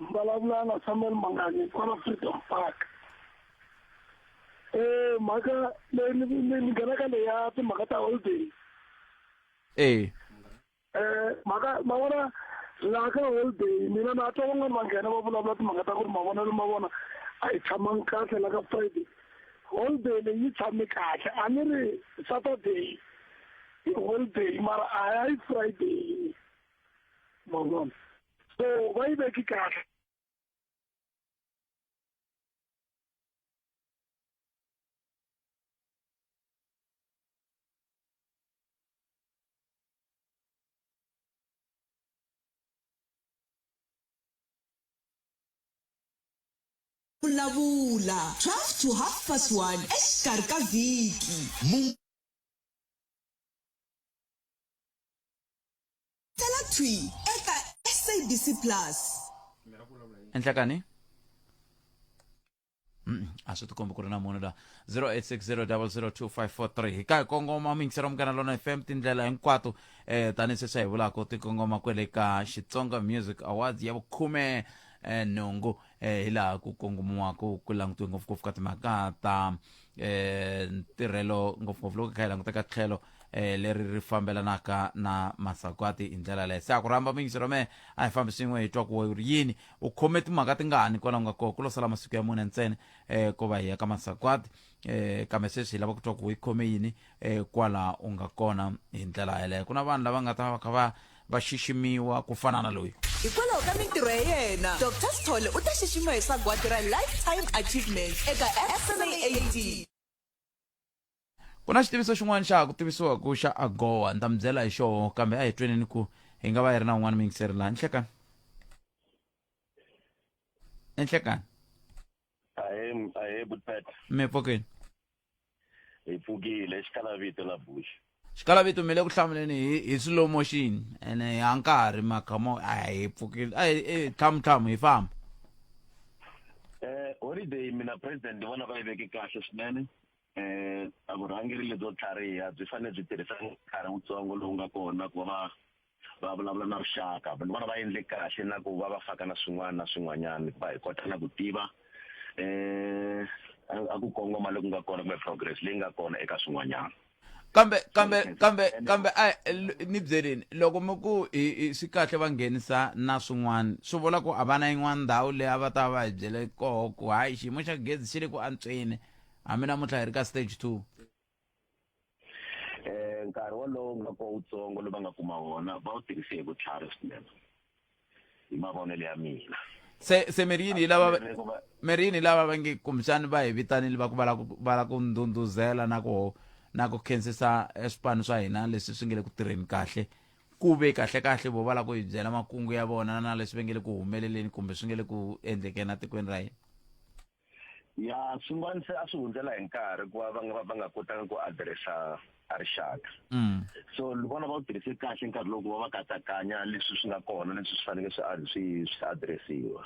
vulavula na samuel mangani kwala freedom park eh mhaka leyi ni ni nghenaka leya timhaka ta holiday eh eh mhaka ma vona laha ka holiday mina na twa van'wani va nghena va vulavula timhaka ta ku ri mavonelo ma vona a hi tshamangi kahle la ka friday holiday leyi yi tshame kahle a ni ri saturday i holiday mara a hi friday ma vona so va yi veki kahle vulavula 12 to half past 1 exikarhi ka vhiki tala thwi eka sabc plus endlakani Mm, a swi tikombi ku ri na munhu la 0860002543 hi ka hi kongoma mingisero munghana lona fm tindlela hinkwato eh tanihi sweswi hi vulaka ti kongoma kwele ka xitsonga music awards ya vukhume eh, nhungu eh, hi laha ku kongomiwaka ku langutiwe ngopfungopfu ka timhaka ta eh ntirhelo ngopfungopfu loko hi kha hi languteka tlhelo eh leri ri fambelanaka na masagwati hi ndlela leyo se a ku rhamba mingisi ra mehe a hi fambi swin'we hi twa ku ri yini u khome timhaka tingani kwalaho nga kona ku lo sala masiku ya mune ntsena eh ko va hi ya ka masagwati eh kambe sweswi hi lava ku twa ku hi khome yini eh, kwala u nga kona hi ndlela yeleyo ku na vanhu lava nga ta va kha va va xiximiwa ku fana na loyi hikwalaho ka mintirho ya yena dr sithole u ta xiximiwa hi sagwadi ra lifetime achievement eka fsaat ku na xitiviso xin'wana xa ha ku tivisiwa ku xa agowa ni ta mi byela hi xoho kambe a hi tweneni ku hi nga va yi ri na un'wana mingiseri laha nhlekani enhlekani ahe m- ahe butata mi pfukile hi pfukile exikalavito la bush xikalavito mi le ku hlamuleni hi hi slow motion ene ha nkarhi makamo a hi pfukile a hi- eh, tlhamuthlamu hi famba eh holiday mina president ni vona va yi veke kahle swinene eh a vurhangeri lebyo tlhariha byi fanele byi tirhisa nkarhi wutsongo lowu nga kona ku va va va vulavula na rixaka ni vona va endle kahle na ku va va faka na swin'wana na swin'wanyana hikuva hi kota na ku tiva um a ku kongoma loku nga kona kumbe progress leyi nga kona eka swin'wanyana kambe kambe kambe kambe a ni byeleni loko mi ku swi kahle va nghenisa na swin'wana swi vula ku a va na yin'wana ndhawu leyi a va ta va hi byele koho ku hayi xiyimo xa gezi xi le ku antsweni hambi namuntlha hi ri ka stage two eh nkarhi wolowo nga ko wutsongo lowu va nga kuma wona va wu tirhise hi vutlhari swinene hi mavonelo ya mina se se mirini hi lava mirini hi lava va nge kumbexani va hi vitanile va ku va lava va lava ku ndhundhuzela na ku na ku khensisa eh, swipano swa hina leswi swi nge le ku tirheni kahle ku ve kahle kahle vo va lava ku hi byela makungu ya vona na leswi va nge le ku humeleleni kumbe swi nge le ku endlekeni etikweni ra hina ya swin'wana se a swi hundzela hi nkarhi ku va va nga va nga kotanga ku adiresa a rixaka mm. so ni vona va wu tirhise kahle nkarhi loko va va katsakanya leswi swi nga kona leswi swi fanele swi swi swi adiresiwa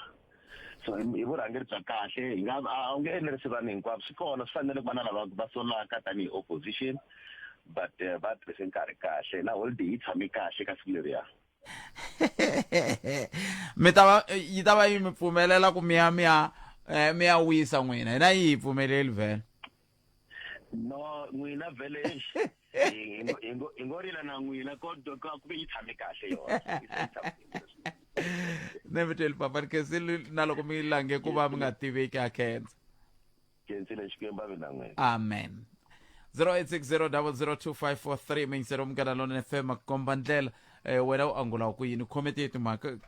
so hi vurhangeri bya kahle hi nga a wu nge enerisi vanhu hinkwavo swi kona swi fanele ku va na lava va solaka tanihi opposition but eh, va tirhise nkarhi kahle na holiday yi tshame kahle ka siku leriya mi ta va yi ta va yi mi pfumelela ku mi ya mi ya eh, mi ya wisa n'wina hina yi hi pfumeleli vhele no n'wina vhele hi ngo- hi ngo- hi ngo rila na n'wina kodwa ka ku ve yi tshame kahle yona Yi tshame kahle. ne mi teli papa ni khensile na loko mi lange ku va mi nga tiveki ha khensa jensile xikwembu ave na n'wina amen 0860002543 mingiselo munghana lona fm komba ndlela eh, wena u angula ku yini khomete hi timhaka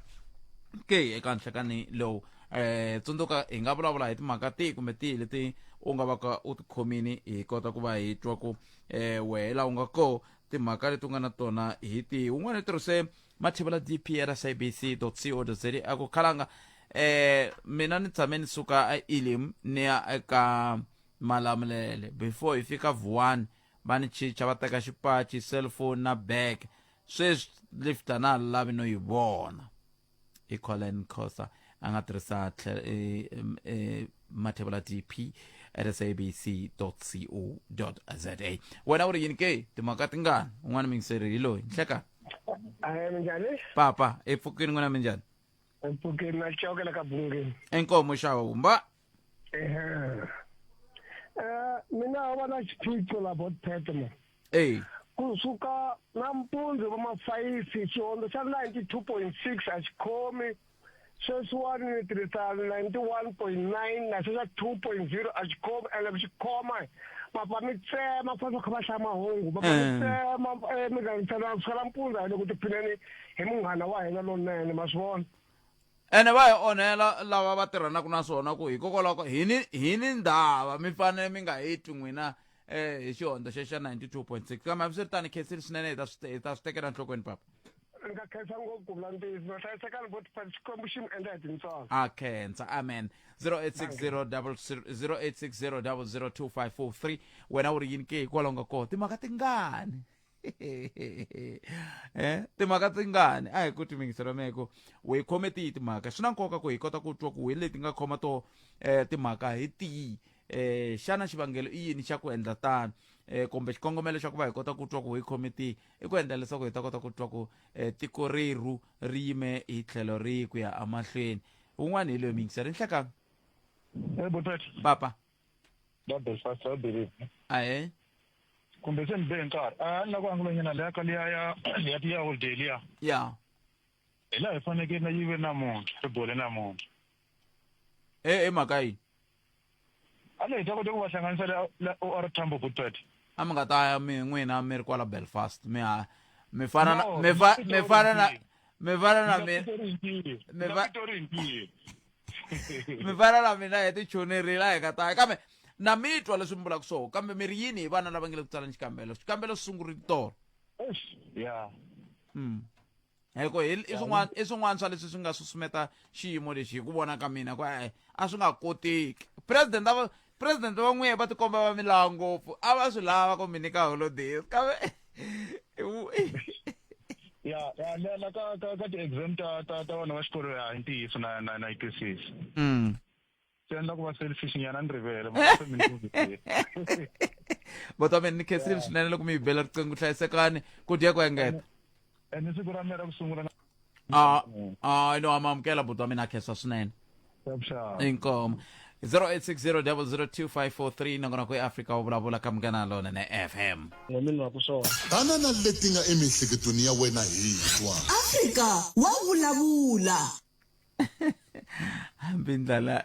ke eka nhlekani lowu eh tsundzuka hi nga vulavula hi timhaka tihi kumbe tihi leti u nga vaka u tikhomini hi kota ku va hi twa ku eh wehela u nga ko timhaka leti u nga na tona hi tihi un'wana i tirhise mathebela dprsabc.co.za akukhalanga eh mina ni tshame ni suka a elim ni ya eka malamulele before hi fika vuwani va ni chicha va teka xipachi cellphone na bag sweswi lift a na ha lavi no yi vona i colin cosa a nga tirhisa tlhe- eh, em, eh, mathevula dp at sabc co za wena u ri yini ke timhaka tingani un'wana mingiseri hi loyi nhleka Ahe minjani? papa epfukini n'wina minjhani Mpfukeni na coke la ka bungeni. enkomo xawa humba ehe eh mina va na xiphiqo la bot petman eyi kusuka nampundzu va mafayifi xihondzo xa 92.6 a xi khomi sweswiwani ni tirhisa 91.9 na sweswa 2.0 a xi khomi ene ku xi khoma papa mi tsema ku fanele kha va hlaya mahungu papa mi eh. tsema eh, mi gangisana kusuka nampundzu a hi le ku tiphineni hi munghana wa hina lonene ma swi vona ene va hi onhela lava va tirhanaka na swona ku hikokwalaho ko hi ni hi ni ndhava mi fanele mi nga hi twi n'wina um hi xihondzo xexa 92 point 6 kambe hambi swi ri tani khensile swinene hi ta swi te- hi ta swi tekela enhlokweni papa ni nga khensa ngopfu ku vula ntiyiso va hlayisekani vo tipati xikwembu xi mi endla hi tintswalo a khensa amen 0860 wena u ri yini ke hikwalaho nga koho timhaka tingani eh timhaka tingani a hi ku timingisela meko we khome tihi timhaka swi na nkoka ku hi kota ku twa ku hi leti nga khoma to eh timhaka hi tihi eh xana xivangelo i yini xa ku endla tano eh kumbe xikongomelo xa ku va hi kota ku twa ku hi khome tihi i ku endla leswaku hi ta kota ku twa ku eh tiko reru ri yime hi tlhelo rihi ku ya amahlweni un'wana hi loyi mingisela nhlekani Eh, Bothati. papa va belfast va believe ahe kumbe se ni be nkarhi a ni lava ku angulanyana leya ka liya ya ya tiya holiday liya ya hi laha hi fanekele na yive namuntlha ri bole namuntlha e e mhaka yini a leyi ta kota ku va hlanganisa la la or tambo goodbad a mi nga ta ya mi n'wina mi ri kwala belfast mi ha mi fana na No, mi fa- mi mi fana na mi fana na mi mi fa- tori ntiyo mi vana la mina hi tichonerile a hi ka taya kambe na mi twa leswi mi vulaka swoho kambe mi ri yini hi vana lava nge le ku tsaleni xikambelo xikambelo swi sungurile tolo Eish, ya Mm. hiko hi i swin'wana i swin'wana swa leswi swi nga susumeta xiyimo lexi hi ku vona ka mina ku e a swi nga koteki president a va president va n'wiye va tikomba va milawa ngopfu a va swi lava ku mi nyika holidays kambe ya ya le la ka ka ka ti-exam ta ta ta vana va xikolo ya hi ntiyiso na na na yi twisisi mm. swi endla ku va selfish nyana ni rivele botomeni ni khesile swinene loko mi yi bela riqingho hlayisekani ku dya ku engeta and hi siku ra mina ra ku sungula na Ah, ah, no, I'm amukela buti wa mina khesa swinene. Shabshab. Inkomo. 0860002543 nakona ku eAfrika u vulavula ka munghana lona ne FM. n'wamini wa ku swona banana leti nga emiehleketweni ya wena hi twa afrika wa vulavula Hambi ndlala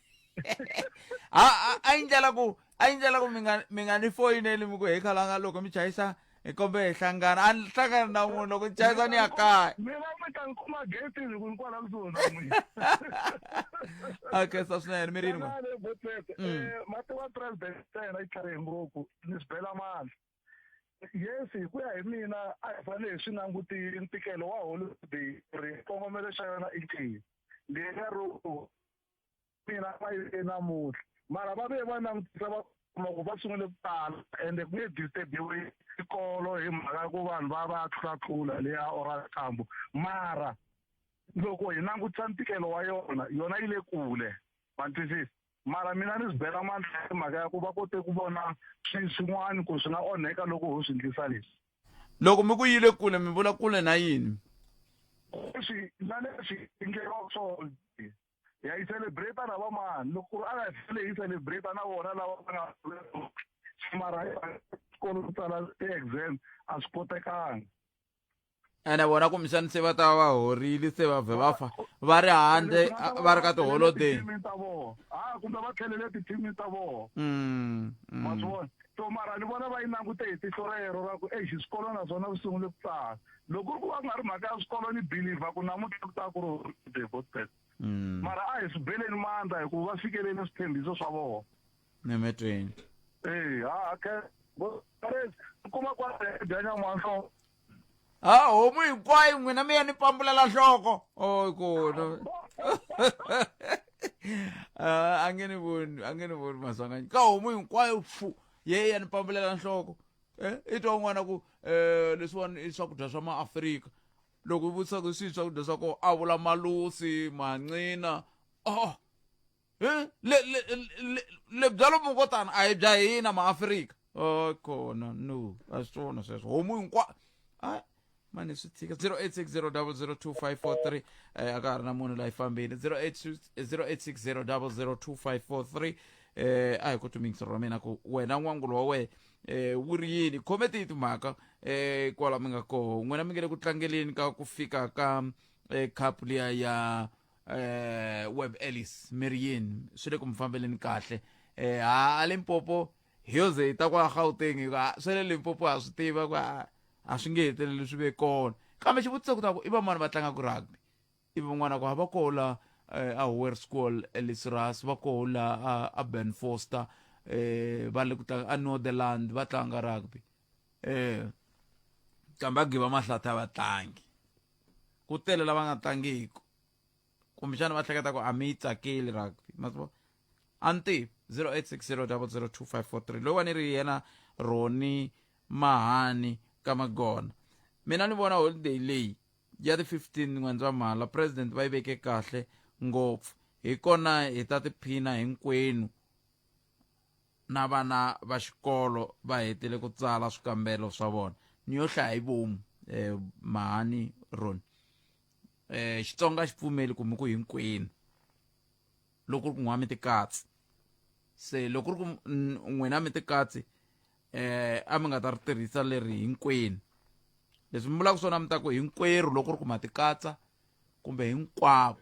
a a- a yi ndlela ku a yi ndlela ku mi nga mi nga ni foyineli mi ku hi khalanga loko mi chayisa hi kombe hi hlangana a ni hlangana na n'wina loko ni chayisa ni ya kaya mi va mi ta ni kuma getini ku ni kwala kusuhi na n'wina a khensa swinene mi rini n'we Tanani, Botsetse. Mm. Eh, mati wa president ta hina yi tlharihe ngopfu ni swi bela mali yes hi ku ya hi mina a hi fanele hi swi languti ntikelo wa holiday ri xikongomelo xa yona i xihi leriya ro mina va yile namuntlha mara va ve va langutisa va kuma ku va sungule ku tala ende ku nge disturbiwe xikolo hi mhaka ya ku vanhu va va tlulatlula leya orakambo mara loko hi langutisa ntikelo wa yona yona yi le kule ma twisisa mara mina ni swi bela mandla hi mhaka ya ku va kote ku vona swin'wana ku swi nga onheka loko ho swi ndlisa leswi loko mi ku yile kule mi vula kule na yini leswi na leswi endleriwaka swona ya yi celebrate na vamani loko ku ri a nga tlhele yi celebrate na vona lava va nga mara xikolo ku tsala ti-exam a swi kotekanga ene vona kumbexani se va ta va horile se va vhe va fa va ri handle va ri ka tiholodeyi ta vona a kumbe va tlhelele tithimini ta vona mm, mm. ma swi vona So mara ni vona va yi langute hi tihlo rero ra ku exi swikolo naswona swi sungule ku tsala loko ri ku va ku nga ri mhaka ya swikolo ni believer ku namuntlha ku ta ku ri gospel mm. mara a hi swi beleni mandla hikuva va fikelele swithembiso swa vona nemetweni eyi ha khe kuma kwa dyanyan'wanhlongo ha homu hinkwayo n'wina mi ya ni pambulela nhloko o kona Ah, a nge ni voni a nge ni voni maswanganyi ka homu hinkwayo fu ye ya ni pambulela nhloko Eh, i twa un'wana ku um leswiwani i swakudya swa maafrika loko i vutisa ku swihi swakudya swa kona a vula malusi mancina oh Eh, le le le le byalo mukotana a hi bya hina maafrika o kona no a swi swona sweswo homu hinkwa a mani swi tshika 0860002543 eh, a ka ha ri na munhu laha yi fambeni 0860002543 eh, a hi ku tumingisa ra mina ku wena n'wangulo wa wena eh, wu ri yini khome tihi timhaka eh, kwala mi nga koho n'wina mi nge le ku tlangeleni ka ku fika ka eh, khapu liya ya eh web ellis meriyeni swi le ku mi fambeleni kahle eh ha limpopo hi yo ze hi ta kwa gauteng hi ku "Ah, swa le limpopo ha swi tiva ku a a swi nge heteleli swi ve kona kambe xivutiso ku ta ku i van'wani va tlangaka rugby i van'wana ku ha va koho la eh, a hower school elisras va koho la a- a ben foster eh va le ku tlanga a northerland va tlanga rugby eh kambe a giva mahlata a va tlangi ku tele lava nga tlangiku kumbexana va hleketa ku a mi yi tsakeli rugby ma swi a ni tivi zero eight six zero double zero two five four three loyiwani ri yena roni mahani ka magona mina ni vona holiday leyi ya ti fifteen n'wendzamhala president va yi veke kahle ngopfu hi kona hi ta tiphina hinkwenu na vana va xikolo va hetile ku tsala swikambelo swa vona ni yo hlaya hi vomu eh, mahani roni eh, xitsonga xi pfumeli kumbe ku hinkwenu loko ri ku n'wami tikatsi se loko ri ku n'wina mi tikatsi eh a mi nga ta ri tirhisa leri hinkwenu leswi mi vulaka swona mi ta ku hinkwerhu loko ri ku ma tikatsa kumbe hinkwavo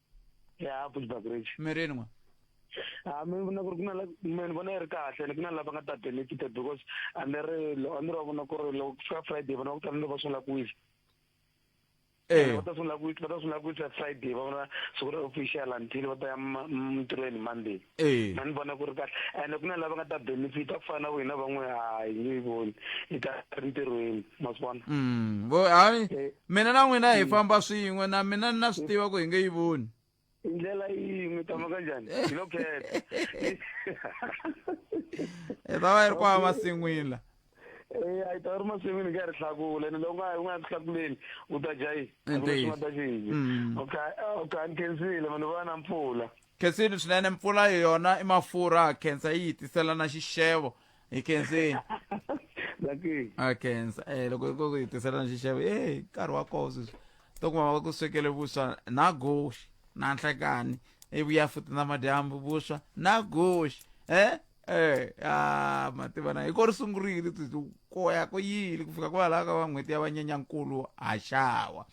ya futhi bagrage mi rini n'wa a mi vona ku ri ku na mi ni vona yi ri kahle ni ku na lava nga ta benefita because a ni ri a ni ri vona ku ri loko ku fika friday vona va ku tsanile va sungula ku wisa eh. va ta sungula ku wisa va ta sungula ku wisa friday va vona siku ra official until va ta ya mintirhweni monday Eh. mani vona ku ri kahle ene ku na lava nga ta benefita ku fana na wena van'we ha hi nge yi voni hi ta ri ntirhweni ma swi vona Mm, vo- hayi Eh. mina na n'wina hi famba swin'we na mina ni na swi tiva ku hi nge yi voni hi ndlela yin'we tama ka njhani hi lo khetha hi ta va yi ri kwala masin'wini la Eh, a yi ta ri masin'wini ka ri hlakula ene loko nga u nga ri hlakuleni u ta dya yini Ntiyiso. nga ta xinje Mm. okay okay ni khensile mani vona mpfula khensini swinene mpfula hi yona i mafurha khensa yi hi tisela na xixevo hi khensini Zakeni. a khensa eh loko yi ku hi tisela na xixevo e nkarhi wa koho sweswi to kuma va ku swekele vuswa na guxe na nhlekani ivuya futi na madyambu vuswa na guxe eh Eh, ah, mativana hi ko ri sungurile ko ya ko yili ku fika kwalaho ka va n'hweti ya vanyenyankulu haxawa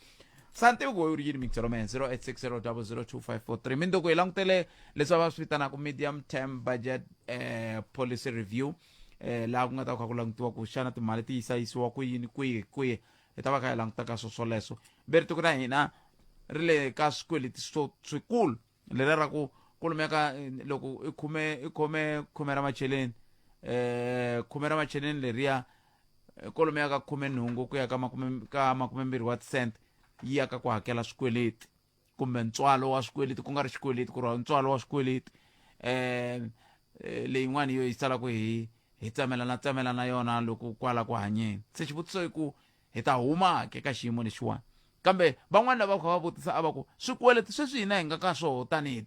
santivi ku u ri yini mixero man 0860002543 mi ndoko hi langutele leswi va swi vitanaka medium term budget eh, policy review eh, laha ku nga ta kha ku langutiwa ku xana timali ti yisayisiwa ku yini kwihi kwihi hi ta va kha hi langutaka swo swoleswo ve ri tiko na hina ri le ka swikweleti swo swikulu lera ra ku ku lumeka eh, loko i khume i khome khume ra macheleni eh khume ra macheleni leriya eh, ko lumeka ka khume nhungu ku ya ka makume ka makume mbirhi wa tisente yi ya ka ku hakela swikweleti kumbe ntswalo wa swikweleti ku nga ri xikweleti ku ri ntswalo wa swikweleti eh eh, leyin'wana yo yi salaku hi hi tsamela na tsamela na yona loko kwala ku hanyeni se xivutiso i ku hi ta huma-ke eka xiyimo lexiwani. Kambe van'wana lava va kha va vutisa a va ku, Swikweleti sweswi hina hi nga ka swoho tanihi.